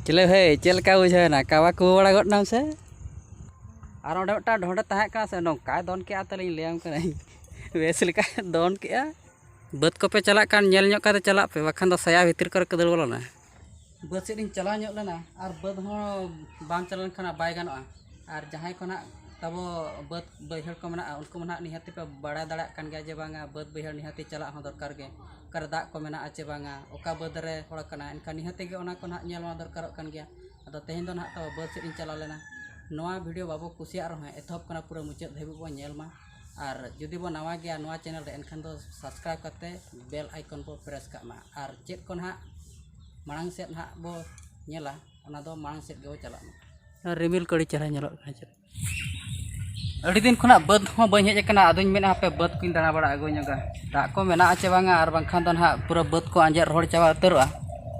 ᱪᱮᱞᱮ ᱵᱷᱟᱹᱭ ᱪᱮᱫ ᱞᱮᱠᱟ ᱵᱩᱡᱷᱟᱹᱣ ᱮᱱᱟ ᱠᱟᱵᱟ ᱠᱩᱵᱩ ᱵᱟᱲᱟ ᱜᱚᱫ ᱮᱱᱟᱢ ᱥᱮ ᱟᱨ ᱚᱸᱰᱮ ᱢᱤᱫᱴᱟᱝ ᱰᱷᱚᱸᱰᱮ ᱛᱟᱦᱮᱸ ᱠᱟᱱᱟ ᱥᱮ ᱱᱚᱝᱠᱟᱭ ᱫᱚᱱ ᱠᱮᱜᱼᱟ ᱛᱟᱹᱞᱤᱧ ᱞᱟᱹᱭᱟᱢ ᱠᱟᱹᱱᱟᱹᱧ ᱵᱮᱥ ᱞᱮᱠᱟᱭ ᱫᱚᱱ ᱠᱮᱜᱼᱟ ᱵᱟᱹᱫᱽ ᱠᱚᱯᱮ ᱪᱟᱞᱟᱜ ᱠᱟᱱ ᱧᱮᱞ ᱧᱚᱜ ᱠᱟᱛᱮ ᱪᱟᱞᱟᱜ ᱯᱮ ᱵᱟᱠᱷᱟᱱ ᱫᱚ ᱥᱟᱭᱟ ᱵᱷᱤᱛᱤᱨ ᱠᱚᱨᱮ ᱠᱚ ᱫᱟᱹᱲ ᱵᱚᱞᱚᱱᱟ ᱵᱟᱹᱫᱽ ᱥᱮᱫ ᱤᱧ ᱪᱟᱞᱟᱣ ᱧᱚᱜ ᱞᱮᱱᱟ ᱟᱨ ᱵᱟᱹᱫᱽ ᱦᱚᱸ ᱵᱟᱝ ᱪᱟᱞᱟᱣ ᱞᱮᱱᱠᱷᱟᱱ ᱵᱟᱭ ᱜᱟᱱᱚᱜᱼᱟ ᱟᱨ ᱡᱟᱦᱟᱸᱭ ᱠᱚ ᱱᱟᱜ ᱛᱟᱵᱚ ᱵᱟᱹᱫᱽ ᱵᱟᱹᱭᱦᱟᱹᱲ ᱠᱚ ᱢᱮᱱᱟᱜᱼᱟ ᱩᱱᱠᱩ ᱢᱟ ᱱᱟᱜ ᱱᱤᱦᱟᱹᱛᱤ ᱯᱮ ᱵᱟᱲᱟᱭ ᱫᱟᱲᱮᱭᱟᱜ ᱠᱟᱱ ᱜᱮᱭᱟ ᱡᱮ ᱵᱟᱝᱟ ᱵᱟᱹᱫᱽ ᱵᱟᱹᱭᱦᱟᱹᱲ ᱱᱤᱦᱟᱹᱛᱤ ᱪᱟᱞᱟᱜ ᱦᱚᱸ ᱫᱚᱨᱠᱟᱨ ᱜᱮ ᱚᱠᱟᱨᱮ ᱫᱟᱜ ᱠᱚ ᱢᱮᱱᱟᱜᱼᱟ ᱪᱮ ᱵᱟᱝᱟ ᱚᱠᱟ ᱵᱟᱹᱫᱽ ᱨᱮ ᱦᱚᱲ ᱠᱟᱱᱟᱭ ᱮᱱᱠᱷᱟᱱ ᱱᱤᱦᱟᱹᱛ ᱜᱮ ᱚᱱᱟ ᱠᱚ ᱱᱟᱜ ᱧᱮᱞ ᱢᱟ ᱫᱚᱨᱠᱟᱨᱚᱜ ᱠᱟᱱ ᱜᱮᱭᱟ ᱟᱫᱚ ᱛᱮᱦᱮᱧ ᱫᱚ ᱱᱟᱜ ᱛᱟᱵᱚ ᱵᱟᱹᱫᱽ ᱥᱮᱫ ᱤᱧ ᱪᱟᱞᱟᱣ ᱞᱮᱱᱟ ᱱᱚᱣᱟ ᱵᱷᱤᱰᱭᱳ ᱵᱟᱵᱚ ᱠᱩᱥᱤᱭᱟᱜ ᱨᱮᱦᱚᱸ ᱮᱛᱚᱦᱚᱵ ᱠᱷᱚᱱᱟᱜ ᱯᱩᱨᱟᱹ ᱢᱩᱪᱟᱹᱫ ᱫᱷᱟᱹᱵᱤᱡ ᱵᱚᱱ ᱧᱮᱞ ᱢᱟ ᱟᱨ ᱡᱩᱫᱤ ᱵᱚᱱ ᱱᱟᱣᱟ ᱜᱮᱭᱟ ᱱᱚᱣᱟ ᱪᱮᱱᱮᱞ ᱨᱮ ᱮᱱᱠᱷᱟᱱ ᱫᱚ ᱥᱟᱵᱥᱠᱨᱟᱭᱤᱵᱽ ᱠᱟᱛᱮᱫ ᱵᱮᱞ ᱟᱭᱠᱚᱱ ᱵᱚᱱ ᱯᱨᱮᱥ ᱠᱟᱜ ᱢᱟ ᱟᱨ ᱪᱮᱫ ᱠᱚ ᱱᱟᱜ ᱢᱟᱲᱟᱝ ᱥᱮᱫ ᱱᱟᱜ ᱵᱚ ᱧᱮᱞᱟ ᱚᱱᱟ ᱫᱚ ᱢᱟᱲᱟᱝ ᱥᱮᱫ ᱜᱮᱵᱚ ᱪᱟᱞᱟᱜ ᱢᱟ ᱨᱤᱢᱤᱞ ᱠᱚ ᱟᱹᱰᱤ ᱪᱮᱦᱨᱟ ᱧᱮᱞᱚᱜ ᱠᱟᱱᱟ ᱪᱮᱫ ᱟᱹᱰᱤ ᱫᱤᱱ ᱠᱷᱚᱱᱟᱜ ᱵᱟᱹᱫᱽ ᱦᱚᱸ ᱵᱟᱹᱧ ᱦᱮᱡ ᱟᱠᱟᱱᱟ ᱟᱫᱚᱧ ᱢᱮᱱᱟ ᱦᱟᱯᱮ ᱵᱟᱹᱫᱽ ᱠᱚᱧ ᱫᱟᱬᱟ ᱵᱟᱲᱟ ᱟᱹᱜᱩ ᱧᱚᱜᱟ ᱫᱟᱜ ᱠᱚ ᱢᱮᱱᱟᱜᱼᱟ ᱪᱮ ᱵᱟᱝᱟ ᱟᱨ ᱵᱟᱝᱠᱷᱟᱱ ᱫᱚ ᱦᱟᱸᱜ ᱯᱩᱨᱟᱹ ᱵᱟᱹᱫᱽ ᱠᱚ ᱟᱸᱡᱮᱫ ᱨᱚᱦᱚᱲ ᱪᱟᱵᱟ ᱩᱛᱟᱹᱨᱚᱜᱼᱟ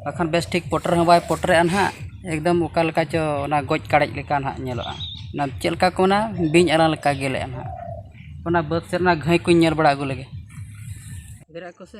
ᱵᱟᱠᱷᱟᱱ ᱵᱮᱥ ᱴᱷᱤᱠ ᱯᱚᱴᱚᱨ ᱦᱚᱸ ᱵᱟᱭ ᱯᱚᱴᱚᱨᱮᱜᱼᱟ ᱦᱟᱸᱜ ᱮᱠᱫᱚᱢ ᱚᱠᱟ ᱞᱮᱠᱟ ᱪᱚ ᱚᱱᱟ ᱜᱚᱡ ᱠᱟᱲᱮᱡ ᱞᱮᱠᱟ ᱦᱟᱸᱜ ᱧᱮᱞᱚᱜᱼᱟ ᱚᱱᱟ ᱪᱮᱫ ᱞᱮᱠᱟ ᱠᱚ ᱢᱮᱱᱟ ᱵᱤᱧ ᱟᱞᱟᱝ ᱞᱮᱠᱟ ᱜᱮᱞᱮᱜᱼᱟ ᱦᱟᱸᱜ ᱚᱱᱟ ᱵᱟᱹᱫᱽ ᱥᱮᱫ ᱨᱮᱱᱟᱜ ᱜᱷᱟᱹᱭ ᱠᱚᱧ ᱧᱮᱞ ᱵᱟᱲᱟ ᱟᱹᱜᱩ ᱞᱮᱜᱮ ᱵᱮᱨᱮᱫ ᱟᱠᱚ ᱥᱮ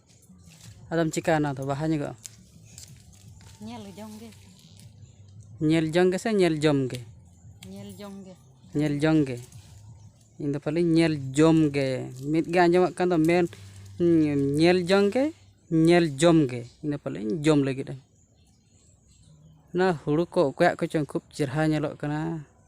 ᱟᱫᱚᱢ ᱪᱤᱠᱟᱹᱭᱟ ᱚᱱᱟ ᱫᱚ ᱵᱟᱦᱟ ᱧᱚᱜᱚᱜᱼᱟ ᱧᱮᱞ ᱡᱚᱝ ᱜᱮ ᱧᱮᱞ ᱡᱚᱝ ᱜᱮᱥᱮ ᱧᱮᱞ ᱡᱚᱢ ᱜᱮ ᱧᱮᱞ ᱡᱚᱝ ᱜᱮ ᱧᱮᱞ ᱡᱚᱝ ᱜᱮ ᱤᱧ ᱫᱚ ᱯᱟᱞᱮᱧ ᱧᱮᱞ ᱡᱚᱢ ᱜᱮ ᱢᱤᱫ ᱜᱮ ᱟᱸᱡᱚᱢᱚᱜ ᱠᱟᱱ ᱫᱚ ᱢᱮᱱ ᱧᱮᱞ ᱡᱚᱝ ᱜᱮ ᱧᱮᱞ ᱡᱚᱢ ᱜᱮ ᱤᱧ ᱫᱚ ᱯᱟᱞᱮᱧ ᱡᱚᱢ ᱞᱟᱹᱜᱤᱫᱼᱟ ᱚᱱᱟ ᱦᱩᱲᱩ ᱠᱚ ᱚᱠᱚᱭᱟᱜ ᱠᱚᱪᱚᱝ ᱠᱷᱩᱵ ᱪᱮᱦᱨᱟ ᱧᱮᱞᱚᱜ ᱠᱟᱱᱟ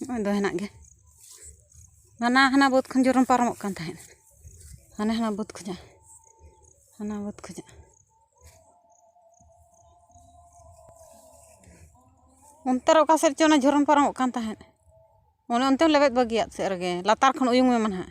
ᱱᱚᱜᱼᱚᱭ ᱫᱚ ᱦᱮᱱᱟᱜ ᱜᱮᱭᱟ ᱦᱟᱱᱟ ᱦᱟᱱᱟ ᱵᱟᱹᱫᱽ ᱠᱷᱚᱱ ᱡᱮᱨᱚᱠᱚᱢ ᱯᱟᱨᱚᱢᱚᱜ ᱠᱟᱱ ᱛᱟᱦᱮᱸᱫ ᱦᱟᱱᱟ ᱦᱟᱱᱟ ᱵᱟᱹᱫᱽ ᱠᱷᱚᱱᱟᱜ ᱦᱟᱱᱟ ᱵᱟᱹᱫᱽ ᱠᱷᱚᱱᱟᱜ ᱚᱱᱛᱮ ᱨᱮ ᱚᱠᱟ ᱥᱮᱫ ᱪᱚ ᱚᱱᱟ ᱡᱷᱚᱨᱚᱱ ᱯᱟᱨᱚᱢᱚᱜ ᱠᱟᱱ ᱛᱟᱦᱮᱸᱫ ᱚᱱᱮ ᱚᱱᱛᱮ ᱞᱮᱵᱮᱫ ᱵᱟᱹᱜᱤᱭᱟᱜ ᱥᱮᱫ ᱨᱮᱜᱮ ᱞᱟᱛᱟᱨ ᱠᱷᱚᱱ ᱩᱭᱩᱝ ᱢᱮ ᱢᱟ ᱱᱟᱦᱟᱜ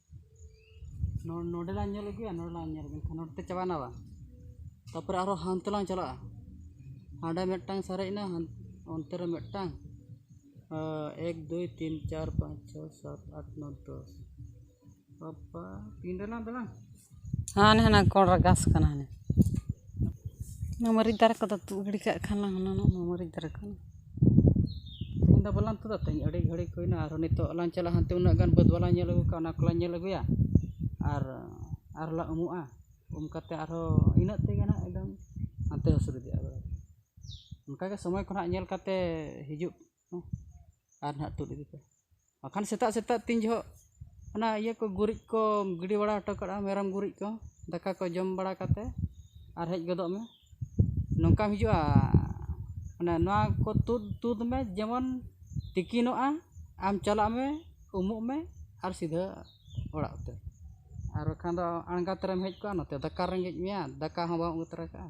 ᱱᱚᱰᱮ ᱞᱟᱝ ᱧᱮᱞ ᱟᱹᱜᱩᱭᱟ ᱱᱚᱰᱮ ᱞᱟᱝ ᱧᱮᱞ ᱟᱹᱜᱩᱭᱟ ᱱᱚᱰᱮ ᱛᱮ ᱪᱟᱵᱟᱭᱮᱱᱟ ᱵᱟᱝ ᱛᱟᱨᱯᱚᱨᱮ ᱟᱨᱚ ᱦᱟᱱᱛᱮ ᱞᱟᱝ ᱪᱟᱞᱟᱜᱼᱟ ᱦᱟᱸᱰᱮ ᱢᱤᱫᱴᱟᱝ ᱥᱟᱨᱮᱡ ᱮᱱᱟ ᱚᱱᱛᱮ ᱨᱮ ᱢᱤᱫᱴᱟᱝ ᱮᱠ ᱫᱩᱭ ᱛᱤᱱ ᱪᱟᱨ ᱯᱟᱸᱪ ᱪᱷᱚᱭ ᱥᱟᱛ ᱟᱴ ᱱᱚᱭ ᱫᱚᱥ ᱵᱟᱵᱵᱟ ᱛᱤᱱ ᱨᱮᱞᱟᱝ ᱫᱟᱬᱟᱱ ᱦᱟᱱᱮ ᱦᱟᱱᱟ ᱠᱚᱬ ᱨᱮ ᱜᱷᱟᱥ ᱠᱟᱱᱟ ᱦᱟᱱᱮ ᱚᱱᱟ ᱢᱟᱹᱨᱤᱪ ᱫᱟᱨᱮ ᱠᱚᱫᱚ ᱛᱩᱫ ᱜᱤᱰᱤ ᱠᱟᱜ ᱠᱷᱟᱱ ᱞᱟᱝ ᱦᱩᱱᱟᱹᱝ ᱚᱱᱟ ᱢᱟᱹᱨᱤᱪ ᱫᱟᱨᱮ ᱠᱚ ᱛᱮᱦᱮᱧ ᱫᱚ ᱵᱟᱞᱟᱝ ᱛᱩᱫᱟ ᱛᱮᱦᱮᱧ ᱟᱹᱰᱤ ᱜᱷᱟᱹᱲᱤᱠ ᱦᱩᱭᱱᱟ ᱟᱨᱦᱚᱸ ᱱᱤᱛᱚᱜ ᱞᱟᱝ ᱪᱟᱞᱟᱜᱼᱟ ᱦᱟᱱᱛᱮ ᱩᱱᱟᱹᱜ ᱜᱟᱱ ᱵᱟᱹᱫᱽ ᱵᱟᱞᱟᱝ ᱧᱮᱞ ᱟᱹᱜᱩ ᱠᱟᱜᱼᱟ ᱚᱱᱟ ᱠᱚᱞᱟᱝ ᱧᱮᱞ ᱟᱹᱜᱩᱭᱟ ᱟᱨ ᱟᱨᱦᱚᱸ ᱞᱟᱝ ᱩᱢᱩᱜᱼᱟ ᱩᱢ ᱠᱟᱛᱮᱫ ᱟᱨᱦᱚᱸ ᱤᱱᱟᱹᱜ ᱛᱮᱜᱮ ᱦᱟᱸᱜ ᱮᱠᱫᱚᱢ ᱦᱟᱱᱛᱮ ᱦᱟᱹᱥᱩᱨ ᱤᱫᱤᱜᱼᱟ ᱚᱱᱠᱟᱜᱮ ᱥᱚᱢᱚᱭ ᱠᱚ ᱦᱟᱸᱜ ᱧᱮᱞ ᱠᱟᱛᱮᱫ ᱦᱤᱡᱩᱜ ᱦᱮᱸ ᱟᱨ ᱱᱟᱦᱟᱜ ᱛᱩᱫ ᱤᱫᱤ ᱯᱮ ᱵᱟᱠᱷᱟᱱ ᱥᱮᱛᱟᱜ ᱥᱮᱛᱟᱜ ᱛᱤᱱ ᱡᱚᱦᱚᱜ ᱚᱱᱟ ᱤᱭᱟᱹ ᱠᱚ ᱜᱩᱨᱤᱡ ᱠᱚ ᱜᱤᱰᱤ ᱵᱟᱲᱟ ᱦᱚᱴᱚ ᱠᱟᱜᱼᱟ ᱢᱮᱨᱚᱢ ᱜᱩᱨᱤᱡ ᱠᱚ ᱫᱟᱠᱟ ᱠᱚ ᱡᱚᱢ ᱵᱟᱲᱟ ᱠᱟᱛᱮ ᱟᱨ ᱦᱮᱡ ᱜᱚᱫᱚᱜ ᱢᱮ ᱱᱚᱝᱠᱟᱢ ᱦᱤᱡᱩᱜᱼᱟ ᱢᱟᱱᱮ ᱱᱚᱣᱟ ᱠᱚ ᱛᱩᱫ ᱛᱩᱫ ᱢᱮ ᱡᱮᱢᱚᱱ ᱛᱤᱠᱤᱱᱚᱜᱼᱟ ᱟᱢ ᱪᱟᱞᱟᱜ ᱢᱮ ᱩᱢᱩᱜ ᱢᱮ ᱟᱨ ᱥᱤᱫᱷᱟᱹ ᱚᱲᱟᱜ ᱩᱛᱟᱹᱨ ᱟᱨ ᱵᱟᱠᱷᱟᱱ ᱫᱚ ᱟᱬᱜᱟᱛ ᱨᱮᱢ ᱦᱮᱡ ᱠᱚᱜᱼᱟ ᱱᱚᱛᱮ ᱫᱟᱠᱟ ᱨᱮᱸᱜᱮᱡ ᱢᱮᱭᱟ ᱫᱟᱠᱟ ᱦᱚᱸ ᱵᱟᱢ ᱟᱹᱜᱩ ᱛᱚᱨᱟ ᱠᱟᱜᱼᱟ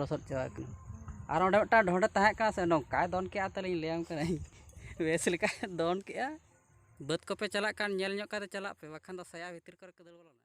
ᱞᱚᱥᱚᱫ ᱪᱟᱵᱟᱜ ᱠᱟᱱᱟ ᱟᱨ ᱚᱸᱰᱮ ᱢᱤᱫᱴᱟᱝ ᱰᱷᱚᱸᱰᱮ ᱛᱟᱦᱮᱸ ᱠᱟᱱᱟ ᱥᱮ ᱱᱚᱝᱠᱟᱭ ᱫᱚᱱ ᱠᱮᱜᱼᱟ ᱛᱟᱹᱞᱤᱧ ᱞᱟᱹᱭᱟᱢ ᱠᱟᱹᱱᱟᱹᱧ ᱵᱮᱥ ᱞᱮᱠᱟᱭ ᱫᱚᱱ ᱠᱮᱜᱼᱟ ᱵᱟᱹᱫᱽ ᱠᱚᱯᱮ ᱪᱟᱞᱟᱜ ᱠᱷᱟᱱ ᱧᱮᱞ ᱧᱚᱜ ᱠᱟᱛᱮ ᱪᱟᱞᱟᱜ ᱯᱮ ᱵᱟᱠᱷᱟᱱ ᱫᱚ ᱥᱟᱭᱟ ᱵᱷᱤᱛᱤᱨ ᱠᱚᱨᱮ ᱠᱚ ᱫᱟᱹᱲ ᱵᱚᱞᱚᱱᱟ